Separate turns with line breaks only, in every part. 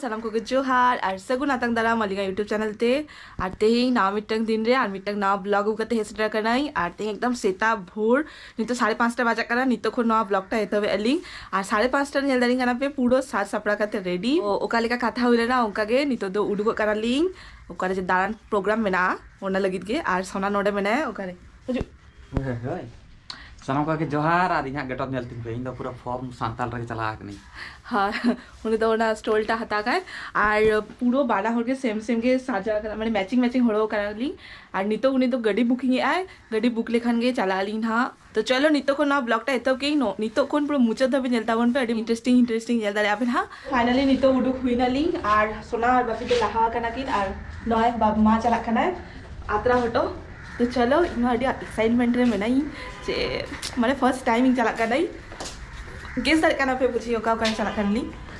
ᱥᱟᱱᱟᱢ ᱠᱚᱜᱮ ᱡᱚᱦᱟᱨ ᱟᱨ ᱥᱟᱹᱜᱩᱱ ᱟᱛᱟᱝ ᱫᱟᱨᱟᱢ ᱟᱹᱞᱤᱧᱟᱜ ᱤᱭᱩᱴᱩᱵᱽ ᱪᱮᱱᱮᱞ ᱛᱮ ᱟᱨ ᱛᱮᱦᱮᱧ ᱱᱟᱣᱟ ᱢᱤᱫᱴᱟᱝ ᱫᱤᱱ ᱨᱮ ᱟᱨ ᱢᱤᱫᱴᱟᱝ ᱱᱟᱣᱟ ᱵᱞᱚᱜ ᱟᱹᱜᱩ ᱠᱟᱛᱮ ᱦᱮᱡ ᱥᱮᱴᱮᱨ ᱟᱠᱟᱱᱟᱹᱧ ᱟᱨ ᱛᱮᱦᱮᱧ ᱮᱠᱫᱚᱢ ᱥᱮᱛᱟᱜ ᱵᱷᱳᱨ ᱱᱤᱛᱚᱜ ᱥᱟᱲᱮ ᱯᱟᱸᱪᱴᱟ ᱵᱟᱡᱟᱜ ᱠᱟᱱᱟ ᱱᱤᱛᱚᱜ ᱠᱷᱚᱱ ᱱᱚᱣᱟ ᱵᱞᱚᱜ ᱴᱟ ᱮᱛᱚᱦᱚᱵ ᱟᱹᱞᱤᱧ ᱟᱨ ᱥᱟᱲᱮ ᱯᱟᱸᱪᱴᱟ ᱧᱮᱞ ᱫᱟᱲᱮᱧ ᱠᱟᱱᱟ ᱯᱮ ᱯᱩᱨᱟᱹ ᱥᱟᱡᱽ ᱥᱟᱯᱲᱟᱣ ᱠᱟᱛᱮ ᱨᱮᱰᱤ ᱚᱠᱟ ᱞᱮᱠᱟ ᱠᱟᱛᱷᱟ ᱦᱩᱭ ᱞᱮᱱᱟ ᱚᱱᱠᱟ ᱜᱮ ᱱᱤᱛᱚᱜ ᱫᱚ ᱩᱰᱩᱠᱚᱜ ᱠᱟᱱᱟᱞᱤᱧ ᱚᱠᱟᱨᱮ ᱡᱮ ᱫᱟᱬᱟᱱ ᱯᱨᱳᱜᱨᱟᱢ ᱢᱮᱱᱟᱜᱼᱟ ᱚᱱᱟ ᱞᱟᱹᱜᱤᱫ ᱜᱮ ᱟᱨ ᱥᱚᱱᱟ ᱱᱚᱰᱮ ᱢᱮᱱᱟᱭᱟ ᱚᱠᱟᱨᱮ ᱦᱤᱡᱩᱜ ᱦᱳᱭ ᱦᱳᱭ ᱥᱟᱱᱟᱢ
ᱠᱚᱜᱮ ᱡᱚᱦᱟᱨ ᱟᱨ ᱤᱧᱟᱹᱜ ᱜᱮᱴᱚᱯ ᱧᱮᱞ ᱛᱤᱧ ᱯᱮ ᱤᱧ ᱫᱚ ᱯᱩᱨᱟᱹ ᱯᱷᱚᱨᱢ ᱥᱟᱱᱛᱟᱲ ᱨᱮᱜᱮ ᱪᱟᱞᱟᱣ ᱟᱠᱟᱱᱟᱹᱧ ᱦᱮᱸ
ᱩᱱᱤ ᱫᱚ ᱚᱱᱟ ᱥᱴᱳᱞ ᱴᱟ ᱦᱟᱛᱟᱣ ᱠᱟᱭ ᱟᱨ ᱯᱩᱨᱟᱹ ᱵᱟᱱᱟ ᱦᱚᱲ ᱜᱮ ᱥᱮᱢ ᱥᱮᱢ ᱜᱮ ᱥᱟᱡᱟᱣ ᱠᱟᱱᱟ ᱢᱟᱱᱮ ᱢᱮᱪᱤᱝ ᱢᱮᱪᱤᱝ ᱦᱚᱲᱚ ᱠᱟᱱᱟᱞᱤᱧ ᱟᱨ ᱱᱤᱛᱚᱜ ᱩᱱᱤ ᱫᱚ ᱜᱟᱹᱰᱤ ᱵᱩᱠᱤᱝ ᱮᱫᱟᱭ ᱜᱟᱹᱰᱤ ᱵᱩᱠ ᱞᱮᱠᱷᱟᱱ ᱜᱮ ᱪᱟᱞᱟᱜ ᱟᱹᱞᱤᱧ ᱦᱟᱸᱜ ᱛᱚ ᱪᱚᱞᱚ ᱱᱤᱛᱚᱜ ᱠᱷᱚᱱ ᱱᱚᱣᱟ ᱵᱞᱚᱜ ᱴᱟ ᱮᱛᱚᱦᱚᱵ ᱠᱮᱜ ᱤᱧ ᱱᱤᱛᱚᱜ ᱠᱷᱚᱱ ᱯᱩᱨᱟᱹ ᱢᱩᱪᱟᱹᱫ ᱫᱷᱟᱹᱵᱤᱡ ᱧᱮᱞ ᱛᱟᱵᱚᱱ ᱯᱮ ᱟᱹᱰᱤ ᱤᱱᱴᱟᱨᱮᱥᱴᱤᱝ ᱤᱱᱴᱟᱨᱮᱥᱴᱤᱝ ᱧᱮᱞ ᱫᱟᱲᱮᱭᱟᱜ ᱟᱯᱮ ᱱᱟᱦᱟᱜ ᱯᱷᱟᱭᱱᱟᱞᱤ ᱱᱤᱛᱚᱜ ᱩᱰᱩᱠ ᱦᱩᱭᱱᱟᱞᱤᱧ ᱟᱨ ᱥᱳᱱᱟ ᱟᱨ ᱵᱟᱹᱯᱤ ᱫᱚ ᱞᱟᱦᱟ ᱟᱠᱟᱱᱟ ᱠᱤᱱ ᱟᱨ ᱱᱚᱜᱼᱚᱭ ᱵᱟᱵ ᱢᱟ ᱪᱟᱞᱟᱜ ᱠᱟᱱᱟᱭ ᱟᱛᱨᱟ ᱦᱚᱴᱚ ᱛᱚ ᱪᱚᱞᱚ ᱤᱧ ᱟᱹᱰᱤ ᱮᱠᱥᱟᱭᱤᱴᱢᱮᱱᱴ ᱨᱮ ᱢᱮᱱᱟᱹᱧ ᱡᱮ ᱢᱟᱱᱮ ᱯᱷᱟᱨᱥᱴ ᱴᱟᱭᱤᱢ ᱤᱧ ᱪᱟᱞᱟᱜ ᱠᱟᱹᱱᱟᱹᱧ ᱜᱮᱥ ᱫᱟᱲᱮᱭᱟᱜ ᱠᱟᱱᱟ ᱯᱮ ᱵᱩᱡᱷᱤ ᱚᱠᱟ ᱚᱠᱟᱧ ᱪᱟᱞᱟᱜ ᱠᱟᱱᱟᱞᱤᱧ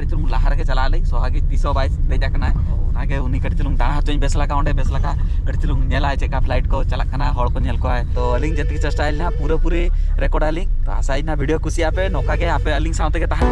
ᱪᱩᱞᱩᱝ ᱞᱟᱦᱟ ᱨᱮᱜᱮ ᱪᱟᱞᱟᱜ ᱟᱹᱞᱤᱧ ᱥᱚᱦᱟᱜᱤ ᱛᱤᱥ ᱦᱚᱸ ᱵᱟᱭ ᱫᱮᱡ ᱟᱠᱟᱱᱟ ᱚᱱᱟᱜᱮ ᱩᱱᱤ ᱠᱟᱹᱴᱤᱡ ᱪᱩᱞᱩᱝ ᱫᱟᱬᱟ ᱦᱚᱪᱚᱧ ᱵᱮᱥ ᱞᱮᱠᱟ ᱚᱸᱰᱮ ᱵᱮᱥ ᱞᱮᱠᱟ ᱠᱟᱹᱴᱤᱡ ᱪᱩᱞᱩᱝ ᱧᱮᱞᱟᱭ ᱪᱮᱫᱠᱟ ᱯᱷᱞᱟᱭᱤᱴ ᱠᱚ ᱪᱟᱞᱟᱜ ᱠᱟᱱᱟ ᱦᱚᱲ ᱠᱚ ᱧᱮᱞ ᱠᱚᱣᱟᱭ ᱛᱚ ᱟᱹᱞᱤᱧ ᱡᱮᱛᱮ ᱪᱮᱥᱴᱟᱭᱟ ᱱᱟᱦᱟᱜ ᱯᱩᱨᱟᱹ ᱯᱩᱨᱤ ᱨᱮᱠᱚᱨᱰ ᱟᱹᱞᱤᱧ ᱛᱚ ᱟᱥᱟᱭᱟᱹᱧ ᱱᱟᱦᱟᱜ ᱵᱷᱤᱰᱤᱭᱳ ᱠᱩᱥᱤᱭᱟᱜ ᱯᱮ ᱱᱚᱝᱠᱟ ᱜᱮ ᱟᱯᱮ ᱟᱹᱞᱤᱧ ᱥᱟᱶ ᱛᱮᱜᱮ ᱛᱟᱦᱮᱱ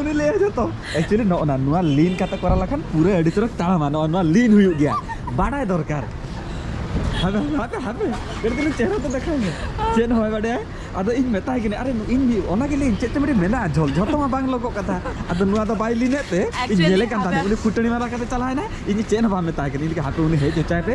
ᱩᱱᱤ ᱞᱟᱹᱭᱟ ᱡᱚᱛᱚ ᱮᱠᱪᱩᱭᱮᱞᱤ ᱱᱚᱜᱼᱚ ᱱᱟ ᱱᱚᱣᱟ ᱞᱤᱱ ᱠᱟᱛᱮ ᱠᱚᱨᱟᱣ ᱞᱮᱠᱷᱟᱱ ᱯᱩᱨᱟᱹ ᱟᱹᱰᱤ ᱪᱚᱨᱚᱠ ᱛᱟᱲᱟᱢᱟ ᱱᱚᱜᱼᱚ ᱱᱚᱣᱟ ᱞᱤᱱ ᱦᱩᱭᱩᱜ ᱜᱮᱭᱟ ᱵᱟᱰᱟᱭ ᱫᱚᱨᱠᱟর ᱦᱟᱯᱮ ᱦᱟᱯᱮ ᱦᱟᱯᱮ ᱠᱟᱹᱴᱤᱡ ᱛᱟᱞᱟᱝ ᱪᱮᱦᱨᱟ ᱛᱮ ᱫᱮᱠᱷᱟᱣ ᱢᱮ ᱪᱮᱫ ᱦᱚᱸ ᱵᱟᱭ ᱵᱟᱰᱟᱭᱟ ᱟᱫᱚ ᱤᱧ ᱢᱮᱛᱟᱭ ᱠᱟᱹᱱᱟᱹᱧ ᱟᱨᱮ ᱤᱧ ᱚᱱᱟ ᱜᱮ ᱞᱟᱹᱭᱟᱹᱧ ᱪᱮᱫ ᱪᱚ ᱢᱤᱫᱴᱤᱡ ᱢᱮᱱᱟᱜᱼᱟ ᱡᱷᱚᱞ ᱡᱷᱚᱛᱚ ᱢᱟ ᱵᱟᱝ ᱞᱚᱜᱚᱜ ᱠᱟᱛᱷᱟ ᱟᱫᱚ ᱱᱚᱣᱟ ᱫᱚ ᱵᱟᱭ ᱞᱤᱱᱮᱫ ᱛᱮ ᱤᱧ ᱧᱮᱞᱮ ᱠᱟᱱ ᱛᱟᱦᱮᱸᱫ ᱩᱱᱤ ᱯᱷᱩᱴᱟᱹᱱᱤ ᱢᱟᱨᱟ ᱠᱟᱛᱮ ᱪᱟᱞᱟᱣ ᱮᱱᱟᱭ ᱤᱧ ᱪᱮᱫ ᱦᱚᱸ ᱵᱟᱝ ᱢᱮᱛᱟᱭ ᱠᱟᱹᱱᱟᱹᱧ ᱤᱧ ᱞᱟᱹᱭ ᱦᱟᱯᱮ ᱩᱱᱤ ᱦᱮᱡ ᱦᱚᱪᱚᱭ ᱯᱮ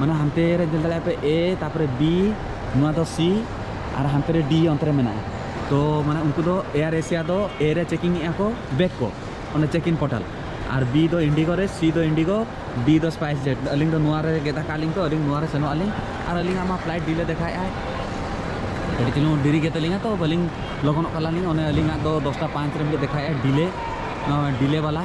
ᱢᱟᱱᱮ ᱦᱟᱱᱛᱮ ᱨᱮ ᱧᱮᱞ ᱫᱟᱲᱮᱭᱟᱜ ᱯᱮ ᱮ ᱛᱟᱨᱯᱚᱨᱮ ᱵᱤ ᱱᱚᱣᱟ ᱫᱚ ᱥᱤ ᱟᱨ ᱦᱟᱱᱛᱮ ᱨᱮ ᱰᱤ ᱚᱱᱛᱮ ᱨᱮ ᱢᱮᱱᱟᱜᱼᱟ ᱛᱚ ᱢᱟᱱᱮ ᱩᱱᱠᱩ ᱫᱚ ᱮᱭᱟᱨ ᱮᱥᱤᱭᱟ ᱫᱚ ᱮ ᱨᱮ ᱪᱮᱠᱤᱝ ᱮᱜᱼᱟ ᱠᱚ ᱵᱮᱜᱽ ᱠᱚ ᱚᱱᱟ ᱪᱮᱠ ᱤᱱ ᱯᱳᱨᱴᱟᱞ ᱟᱨ ᱵᱤ ᱫᱚ ᱤᱱᱰᱤᱜᱳ ᱨᱮ ᱥᱤ ᱫᱚ ᱤᱱᱰᱤᱜᱳ ᱰᱤ ᱫᱚ ᱥᱯᱟᱭᱤᱥ ᱡᱮᱴ ᱟᱹᱞᱤᱧ ᱫᱚ ᱱᱚᱣᱟ ᱨᱮ ᱜᱮᱫ ᱟᱠᱟᱫ ᱞᱤᱧ ᱠᱚ ᱟᱹᱞᱤᱧ ᱱᱚᱣᱟ ᱨᱮ ᱥᱮᱱᱚᱜ ᱟᱹᱞᱤᱧ ᱟᱨ ᱟᱹᱞᱤᱧᱟᱜ ᱢᱟ ᱯᱷᱞᱟᱭᱤᱴ ᱰᱤᱞᱮ ᱫᱮᱠᱷᱟᱭᱮᱫᱼᱟᱭ ᱟᱹᱰᱤ ᱪᱩᱞᱩᱝ ᱰᱮᱨᱤ ᱜᱮ ᱛᱟᱹᱞᱤᱧᱟ ᱛᱚ ᱵᱟᱹᱞᱤᱧ ᱞᱚᱜᱚᱱᱚᱜ ᱠᱟᱱᱟᱞᱤᱧ ᱚᱱᱮ ᱟᱹᱞᱤᱧᱟᱜ ᱫᱚ ᱫᱚᱥᱴᱟ ᱯᱟᱸᱪ ᱨᱮ ᱢᱤᱫᱴᱮᱡ ᱫᱮᱠᱷᱟᱭᱮᱫᱼᱟᱭ ᱰᱤᱞᱮ ᱱᱚᱣᱟ ᱰᱤᱞᱮ ᱵᱟᱞᱟ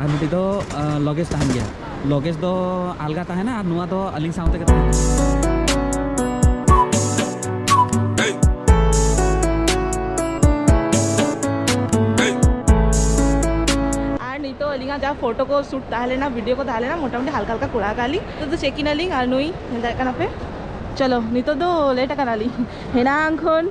ᱟᱨ ᱢᱤᱫᱴᱤᱡ ᱫᱚ ᱞᱚᱜᱮᱡᱽ ᱛᱟᱦᱮᱱ ᱜᱮᱭᱟ ᱞᱚᱜᱮᱡᱽ ᱫᱚ ᱟᱞᱜᱟ ᱛᱟᱦᱮᱱᱟ ᱟᱨ ᱱᱚᱣᱟ ᱫᱚ ᱟᱹᱞᱤᱧ ᱥᱟᱶ ᱛᱮᱜᱮ ᱛᱟᱦᱮᱱᱟ
ᱟᱹᱞᱤᱧᱟᱜ ᱡᱟᱦᱟᱸ ᱯᱷᱳᱴᱳ ᱠᱚ ᱥᱩᱴ ᱛᱟᱦᱮᱸ ᱞᱮᱱᱟ ᱵᱷᱤᱰᱤᱭᱳ ᱠᱚ ᱛᱟᱦᱮᱸ ᱞᱮᱱᱟ ᱢᱚᱴᱟᱢᱩᱴᱤ ᱦᱟᱞᱠᱟ ᱦᱟᱞᱠᱟ ᱠᱚᱨᱟᱣ ᱠᱟᱜ ᱞᱤᱧ ᱱᱤᱛᱚᱜ ᱫᱚ ᱪᱮᱠ ᱤᱱ ᱟᱹᱞᱤᱧ ᱟᱨ ᱱᱩᱭ ᱧᱮᱞ ᱫᱟᱲᱮᱭᱟᱜ ᱠᱟᱱᱟ ᱯᱮ ᱪᱚᱞᱚ ᱱᱤᱛᱚᱜ ᱫᱚ ᱞᱮᱴ ᱟᱠᱟᱱᱟᱞᱤᱧ ᱦᱮᱱᱟᱝ ᱠᱷᱚᱱ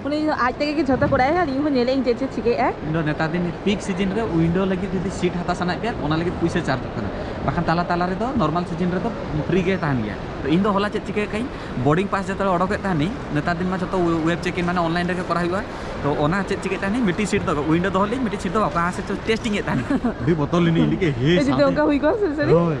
ᱩᱱᱤ ᱟᱡ ᱛᱮᱜᱮ ᱜᱮ ᱡᱷᱚᱛᱚ ᱠᱚᱨᱟᱭ ᱟᱨ ᱤᱧ ᱦᱚᱸ ᱧᱮᱞᱮ ᱤᱧ ᱪᱮᱫ ᱪᱮᱫ ᱪᱤᱠᱟᱹᱭᱮᱫ ᱟᱭ ᱤᱧ ᱫᱚ ᱱᱮᱛᱟᱨ ᱫᱤᱱ ᱯᱤᱠ
ᱥᱤᱡᱤᱱ ᱨᱮ ᱩᱭᱤᱱᱰᱳ ᱞᱟᱹᱜᱤᱫ ᱡᱩᱫᱤ ᱥᱤᱴ ᱦᱟᱛᱟᱣ ᱥᱟᱱᱟᱭᱮᱫ ᱯᱮᱭᱟ ᱚᱱᱟ ᱞᱟᱹᱜᱤᱫ ᱯᱩᱭᱥᱟᱹ ᱪᱟᱨᱡᱚᱜ ᱠᱟᱱᱟ ᱵᱟᱠᱷᱟᱱ ᱛᱟᱞᱟ ᱛᱟᱞᱟ ᱨᱮᱫᱚ ᱱᱚᱨᱢᱟᱞ ᱥᱤᱡᱤᱱ ᱨᱮᱫᱚ ᱯᱷᱨᱤ ᱜᱮ ᱛᱟᱦᱮᱱ ᱜᱮᱭᱟ ᱛᱚ ᱤᱧ ᱫᱚ ᱦᱚᱞᱟ ᱪᱮᱫ ᱪᱤᱠᱟᱹ ᱠᱟᱹᱧ ᱵᱳᱨᱰᱤᱝ ᱯᱟᱥ ᱡᱚᱛᱚ ᱚᱰᱚᱠᱮᱫ ᱛᱟᱦᱮᱱᱤᱧ ᱱᱮᱛᱟᱨ ᱫᱤᱱ ᱢᱟ ᱡᱚᱛᱚ ᱣᱮᱵ ᱪᱮᱠ ᱤᱱ ᱢᱟᱱᱮ ᱚᱱᱞᱟᱭᱤᱱ ᱨᱮᱜᱮ ᱠᱚᱨᱟᱣ ᱦᱩᱭᱩᱜᱼᱟ ᱛᱚ ᱚᱱᱟ ᱪᱮᱫ ᱪᱤᱠᱟᱹ ᱛᱟᱦᱮᱱᱤᱧ ᱢᱤᱫᱴᱤᱡ ᱥᱤᱴ ᱫᱚ ᱩᱭᱤᱱᱰᱳ ᱫᱚᱦᱚ ᱞᱤᱧ ᱢᱤᱫᱴᱤᱡ ᱥᱤᱴ ᱫᱚ ᱚᱠᱟ ᱥᱮᱫ ᱴᱮᱥᱴᱤᱝ ᱮᱫ ᱛᱟᱦᱮᱱᱤᱧ ᱟᱹᱰᱤ ᱵᱚᱛᱚᱨ ᱞᱤᱱᱟᱹᱧ ᱞᱟᱹᱜᱤᱫ ᱦᱮ ᱡᱩᱫᱤ ᱚᱱᱠᱟ ᱦᱩᱭ ᱠᱚᱜᱼᱟ
ᱥᱟᱹᱨᱤ ᱦᱳᱭ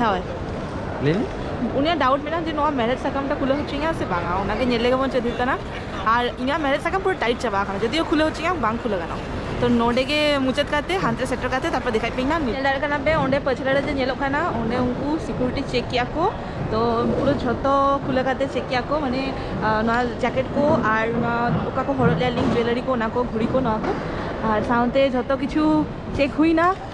ᱦᱳᱭ ᱞᱟᱹᱭ
ᱢᱮ
ᱩᱱᱤᱭᱟᱜ ᱰᱟᱣᱩᱴ
ᱢᱮᱱᱟᱜᱼᱟ ᱡᱮ ᱱᱚᱣᱟ ᱢᱮᱨᱮᱡᱽ ᱥᱟᱠᱟᱢ ᱴᱟ ᱠᱷᱩᱞᱟᱹᱣ ᱦᱚᱪᱚᱧᱟ ᱥᱮ ᱵᱟᱝᱟ ᱚᱱᱟᱜᱮ ᱧᱮᱞ ᱞᱮᱜᱮ ᱵᱚᱱ ᱪᱮᱫ ᱦᱩᱭᱩᱜ ᱠᱟᱱᱟ ᱟᱨ ᱤᱧᱟᱹᱜ ᱢᱮᱨᱮᱡᱽ ᱥᱟᱠᱟᱢ ᱯᱩᱨᱟᱹ ᱴᱟᱭᱤᱴ ᱪᱟᱵᱟ ᱟᱠᱟᱱᱟ ᱡᱚᱫᱤᱭᱳ ᱠᱷᱩᱞᱟᱹᱣ ᱦᱚᱪᱚᱧᱟ ᱵᱟᱝ ᱠᱷᱩᱞᱟᱹᱣ ᱜᱟᱱᱚᱜᱼᱟ ᱛᱚ ᱱᱚᱰᱮ ᱜᱮ ᱢᱩᱪᱟᱹᱫ ᱠᱟᱛᱮ ᱦᱟᱱᱛᱮ ᱥᱮᱴᱮᱨ ᱠᱟᱛᱮ ᱛᱟᱨᱯᱚᱨ ᱫᱮᱠᱷᱟᱭ ᱯᱮ ᱱᱟᱜ ᱧᱮᱞ ᱫᱟᱲᱮᱭᱟᱜ ᱠᱟᱱᱟ ᱯᱮ ᱚᱸᱰᱮ ᱯᱟᱹᱪᱷᱞᱟᱹ ᱨᱮ ᱡᱮ ᱧᱮᱞᱚᱜ ᱠᱟᱱᱟ ᱚᱸᱰᱮ ᱩᱱᱠᱩ ᱥᱤᱠᱩᱨᱤᱴᱤ ᱪᱮᱠ ᱠᱮᱜᱼᱟ ᱠᱚ ᱛᱚ ᱯᱩᱨᱟᱹ ᱡᱷᱚᱛᱚ ᱠᱷᱩᱞᱟᱹᱣ ᱠᱟᱛᱮ ᱪᱮᱠ ᱠᱮᱜᱼᱟ ᱠᱚ ᱢᱟᱱᱮ ᱱᱚᱣᱟ ᱡᱟᱠᱮᱴ ᱠᱚ ᱟᱨ ᱱᱚᱣᱟ ᱚᱠᱟ ᱠᱚ ᱦᱚᱨᱚᱜ ᱞᱮᱜᱼᱟ ᱞᱤᱧ ᱡᱩᱭᱮᱞᱟᱨᱤ ᱠᱚ ᱚᱱᱟ ᱠᱚ ᱜᱷᱩᱲᱤ ᱠᱚ ᱱᱚᱣᱟ ᱠᱚ ᱟᱨ ᱥᱟᱶᱛᱮ ᱡᱷᱚᱛᱚ ᱠᱤᱪᱷᱩ ᱪᱮᱠ ᱦᱩᱭᱱᱟ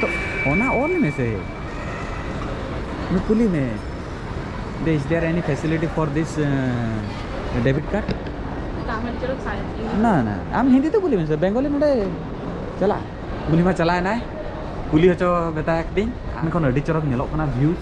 ᱛᱚ
ᱚᱱᱟ ᱚᱞ ᱢᱮᱥᱮ ᱩᱱᱤ ᱠᱩᱞᱤ ᱢᱮ ᱫᱮ is there any facility for this debit card ᱱᱟ ᱱᱟ ᱟᱢ ᱦᱤᱱᱫᱤ ᱛᱮ ᱠᱩᱞᱤ ᱢᱮᱥᱮ ᱵᱮᱝᱜᱚᱞᱤ ᱱᱚᱰᱮ ᱪᱟᱞᱟᱜ ᱜᱩᱞᱤ ᱢᱟ ᱪᱟᱞᱟᱣ ᱮᱱᱟᱭ ᱠᱩᱞᱤ ᱦᱚᱪᱚ ᱢᱮᱛᱟᱭ ᱠᱟᱹᱱᱟᱹᱧ ᱢᱮᱱᱠᱷᱟᱱ ᱟᱹᱰᱤ ᱪᱚᱨᱚᱠ ᱧᱮᱞᱚᱜ ᱠᱟᱱᱟ ᱵᱷᱤᱭᱩ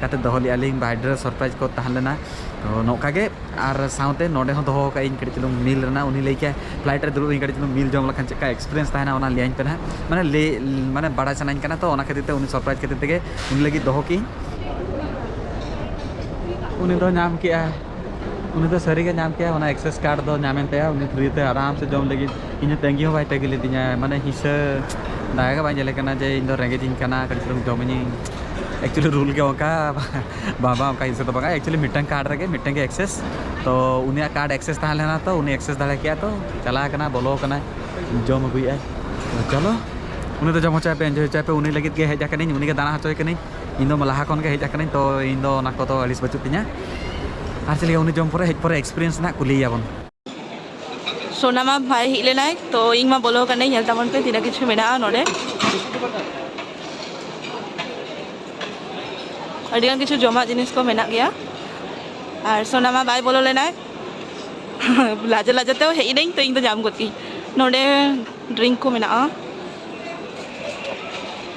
ᱠᱟᱛᱮ ᱫᱚᱦᱚ ᱞᱮᱫᱼᱟ ᱞᱤᱧ ᱵᱟᱭ ᱰᱨᱮᱥ ᱥᱚᱨᱯᱨᱟᱭᱤᱡᱽ ᱠᱚ ᱛᱟᱦᱮᱸ ᱞᱮᱱᱟ ᱛᱚ ᱱᱚᱝᱠᱟ ᱜᱮ ᱟᱨ ᱥᱟᱶᱛᱮ ᱱᱚᱰᱮ ᱦᱚᱸ ᱫᱚᱦᱚ ᱟᱠᱟᱫ ᱤᱧ ᱠᱟᱹᱴᱤᱡ ᱪᱩᱞᱩᱝ ᱢᱤᱞ ᱨᱮᱱᱟᱜ ᱩᱱᱤ ᱞᱟᱹᱭ ᱠᱮᱫᱟᱭ ᱯᱷᱞᱟᱭᱤᱴ ᱨᱮ ᱫᱩᱲᱩᱵ ᱤᱧ ᱠᱟᱹᱴᱤᱡ ᱪᱩᱞᱩᱝ ᱢᱤᱞ ᱡᱚᱢ ᱞᱮᱠᱷᱟᱱ ᱪᱮᱫ ᱞᱮᱠᱟ ᱮᱠᱥᱯᱨᱤᱭᱮᱱᱥ ᱛᱟᱦᱮᱱᱟ ᱚᱱᱟ ᱞᱟᱹᱭᱟᱹᱧ ᱯᱮ ᱱᱟᱦᱟᱜ ᱢᱟᱱᱮ ᱞᱟᱹᱭ ᱢᱟᱱᱮ ᱵᱟᱲᱟᱭ ᱥᱟᱱᱟᱧ ᱠᱟᱱᱟ ᱛᱚ ᱚᱱᱟ ᱠᱷᱟᱹᱛᱤᱨ ᱛᱮ ᱩᱱᱤ ᱥᱚᱨᱯᱨᱟᱭᱤᱡᱽ ᱠᱷᱟᱹᱛᱤᱨ ᱛᱮᱜᱮ ᱩᱱᱤ ᱞᱟᱹᱜᱤᱫ ᱫᱚᱦᱚ ᱠᱮᱫ ᱟᱹᱧ ᱩᱱᱤ ᱫᱚ ᱧᱟᱢ ᱠᱮᱫᱼᱟᱭ ᱩᱱᱤ ᱫᱚ ᱥᱟᱹᱨᱤ ᱜᱮ ᱧᱟᱢ ᱠᱮᱭᱟ ᱚᱱᱟ ᱮᱠᱥᱮᱥ ᱠᱟᱨᱰ ᱫᱚ ᱧᱟᱢ ᱮᱱ ᱛᱟᱭᱟ ᱩᱱᱤ ᱯᱷᱨᱤ ᱛᱮ ᱟᱨᱟᱢ ᱥᱮ ᱡᱚᱢ ᱞᱟᱹᱜᱤᱫ ᱤᱧ ᱦᱚᱸ ᱛᱟᱺᱜᱤ ᱦᱚᱸ ᱵᱟᱭ ᱛᱟᱺᱜᱤ ᱞᱮᱫᱤᱧᱟ ᱢᱟᱱᱮ ᱦᱤᱥᱟᱹ ᱫᱟᱭᱟ ᱜᱮ ᱵᱟᱭ ᱧᱮᱞᱮ ᱠᱟᱱᱟ ᱡᱮ ᱤᱧ ᱫᱚ ᱨᱮᱸᱜᱮᱡ ᱤᱧ ᱠᱟᱱᱟ ᱠᱟᱹᱴᱤᱡ ᱪᱩᱞᱩᱝ ᱡᱚᱢ ᱤᱧ ᱮᱠᱪᱩᱭᱮᱞᱤ ᱨᱩᱞ ᱜᱮ ᱚᱱᱠᱟ ᱵᱟᱝ ᱵᱟᱝ ᱚᱱᱠᱟ ᱦᱤᱥᱟᱹ ᱫᱚ ᱵᱟᱝᱟ ᱮᱠᱪᱩᱭᱮᱞᱤ ᱢᱤᱫᱴᱟᱝ ᱠᱟᱨᱰ ᱨᱮᱜᱮ ᱢᱤᱫᱴᱟᱝ ᱜᱮ ᱮᱠᱥᱮᱥ ᱛᱚ ᱩᱱᱤᱭᱟᱜ ᱠᱟᱨᱰ ᱮᱠᱥᱮᱥ ᱛᱟᱦᱮᱸ ᱞᱮᱱᱟ ᱛᱚ ᱩᱱᱤ ᱮᱠᱥᱮᱥ ᱫᱟᱲᱮ ᱠᱮᱜᱼᱟ ᱛᱚ ᱪᱟᱞᱟᱣ ᱠᱟᱱᱟ ᱵᱚᱞᱚ ᱠᱟᱱᱟᱭ ᱡᱚᱢ ᱟᱹᱜᱩᱭᱮᱜᱼᱟᱭ ᱪᱚᱞᱚ ᱩᱱᱤ ᱫᱚ ᱡᱚᱢ ᱦᱚᱪᱚᱭᱮᱯᱮ ᱮᱱᱡᱚᱭ ᱦᱚᱪᱚᱭᱮᱯᱮ ᱩᱱᱤ ᱞᱟᱹᱜᱤᱫ ᱜᱮ ᱦᱮᱡ ᱟᱠᱟᱱᱟᱹᱧ ᱩᱱᱤ ᱜᱮ ᱫᱟᱬᱟ ᱦᱚᱪᱚᱭᱮ ᱠᱟᱹᱱᱟᱹᱧ ᱤᱧ ᱫᱚ ᱞᱟᱦᱟ ᱠᱷᱚᱱ ᱜᱮ ᱦᱮᱡ ᱟᱠᱟᱱᱟᱹᱧ ᱛᱚ ᱤᱧ ᱫᱚ ᱚᱱᱟ ᱠᱚᱫᱚ ᱟᱹᱲᱤᱥ ᱵᱟᱹᱪᱩᱜ ᱛᱤᱧᱟ ᱟᱨ ᱪᱮᱫ ᱞᱟᱹᱭᱟ ᱩᱱᱤ ᱡᱚᱢ ᱯᱚᱨᱮ ᱦᱮᱡ ᱯᱚᱨᱮ ᱮᱠᱥᱯᱤᱨᱤᱭᱮᱱᱥ ᱱᱟᱜ ᱠᱩᱞᱤᱭᱮᱭᱟᱵᱚᱱ
ᱥᱳᱱᱟ ᱢᱟ ᱵᱷᱟᱭ ᱦᱮᱡ ᱞᱮᱱᱟᱭ ᱛᱚ ᱤᱧ ᱢᱟ ᱵᱚᱞᱚ ᱠᱟᱹᱱᱟᱹᱧ ᱧᱮᱞ ᱛᱟᱵᱚᱱ ᱯᱮ ᱛᱤᱱᱟᱹᱜ ᱠᱤᱪᱷᱩ ᱢᱮᱱᱟᱜᱼᱟ ᱱᱚᱰᱮ ᱟᱹᱰᱤ ᱜᱟᱱ ᱠᱤᱪᱷᱩ ᱡᱚᱢᱟᱜ ᱡᱤᱱᱤᱥ ᱠᱚ ᱢᱮᱱᱟᱜ ᱜᱮᱭᱟ ᱟᱨ ᱥᱳᱱᱟ ᱢᱟ ᱵᱟᱭ ᱵᱚᱞᱚ ᱞᱮᱱᱟᱭ ᱞᱟᱡᱟ ᱞᱟᱡᱟ ᱛᱮ ᱦᱮᱡ ᱮᱱᱟᱹᱧ ᱛᱚ ᱤᱧ ᱫᱚ ᱧᱟᱢ ᱜᱚᱫ ᱠᱤᱧ ᱱᱚᱰᱮ ᱰᱨᱤᱝᱠ ᱠᱚ ᱢᱮᱱᱟᱜᱼᱟ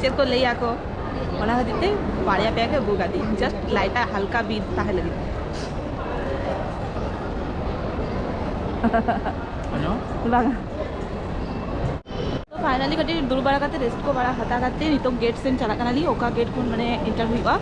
ᱪᱮᱫ ᱠᱚ ᱞᱟᱹᱭᱟ ᱠᱚ ᱚᱱᱟ ᱠᱷᱟᱹᱛᱤᱨ ᱛᱮ ᱵᱟᱨᱭᱟ ᱯᱮᱭᱟ ᱜᱮ ᱟᱹᱜᱩ ᱠᱟᱫᱤᱧ ᱡᱟᱥᱴ ᱞᱟᱭᱤᱴᱟ ᱦᱟᱞᱠᱟ ᱵᱤᱨ ᱛᱟᱦᱮᱸ ᱞᱟᱹᱜᱤᱫ ᱵᱟᱝ ᱯᱷᱟᱭᱱᱟᱞᱤ ᱠᱟᱹᱴᱤᱡ ᱫᱩᱲᱩᱵ ᱵᱟᱲᱟ ᱠᱟᱛᱮ ᱨᱮᱥᱴ ᱠᱚ ᱵᱟᱲᱟ ᱦᱟᱛᱟᱣ ᱠᱟᱛᱮ ᱱᱤᱛᱚᱜ ᱜᱮᱴ ᱥᱮᱱ ᱪᱟᱞᱟᱜ ᱠᱟᱱᱟᱞᱤᱧ ᱚᱠᱟ ᱜᱮᱴ ᱠᱷᱚᱱ ᱢᱟᱱᱮ ᱮᱱᱴᱟᱨ ᱦᱩᱭᱩᱜᱼᱟ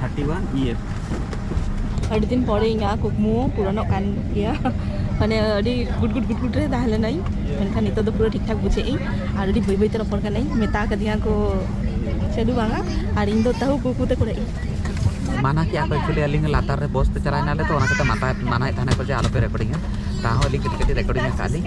ᱛᱷᱟᱨᱴᱤ
ᱣᱟᱱ ᱤ ᱮᱯᱷ ᱟᱹᱰᱤ ᱫᱤᱱ ᱯᱚᱨᱮ ᱤᱧᱟᱹᱜ ᱠᱩᱠᱢᱩ ᱯᱩᱨᱚᱱᱚᱜ ᱠᱟᱱ ᱜᱮᱭᱟ ᱢᱟᱱᱮ ᱟᱹᱰᱤ ᱜᱩᱰ ᱜᱩᱰ ᱜᱩᱰ ᱜᱩᱰ ᱨᱮ ᱛᱟᱦᱮᱸ ᱞᱮᱱᱟᱹᱧ ᱢᱮᱱᱠᱷᱟᱱ ᱱᱤᱛᱚᱜ ᱫᱚ ᱯᱩᱨᱟᱹ ᱴᱷᱤᱠ ᱴᱷᱟᱠ ᱵᱩᱡᱷᱟᱹᱜ ᱟᱹᱧ ᱟᱨ ᱟᱹᱰᱤ ᱵᱟᱹᱭ ᱵᱟᱹᱭᱛᱮ ᱨᱚᱯᱚᱲ ᱠᱟᱹᱱᱟᱹᱧ ᱢᱮᱛᱟ ᱠᱟᱫᱤᱧᱟ ᱠᱚ ᱪᱟᱹᱞᱩ ᱵᱟᱝᱟ ᱟᱨ ᱤᱧ ᱫᱚ ᱛᱟᱹᱦᱩ ᱠᱩᱠᱩ ᱛᱮ ᱠᱚᱨᱮ ᱢᱟᱱᱟ
ᱠᱮᱜᱼᱟ ᱠᱚ ᱮᱠᱪᱩᱭᱮᱞᱤ ᱟᱹᱞᱤᱧ ᱞᱟᱛᱟᱨ ᱨᱮ ᱵᱚᱥ ᱛᱮ ᱪᱟᱞᱟᱣ ᱮᱱᱟᱞᱮ ᱛᱚ ᱚᱱᱟ ᱠᱟᱛᱮ ᱢᱟᱛᱟ ᱢᱟᱱᱟᱭᱮᱫ ᱛᱟᱦᱮᱱᱟ ᱠᱚ ᱡᱮ ᱟᱞᱚᱯᱮ ᱨᱮᱠᱚᱨᱰᱤᱝᱟ ᱛᱟᱦᱚᱸ ᱟᱹᱞᱤᱧ ᱠᱟᱹᱴᱤᱡ ᱠᱟᱹᱴᱤᱡ ᱨᱮᱠᱚᱨᱰᱤᱝ ᱟᱠᱟᱫ ᱞᱤᱧ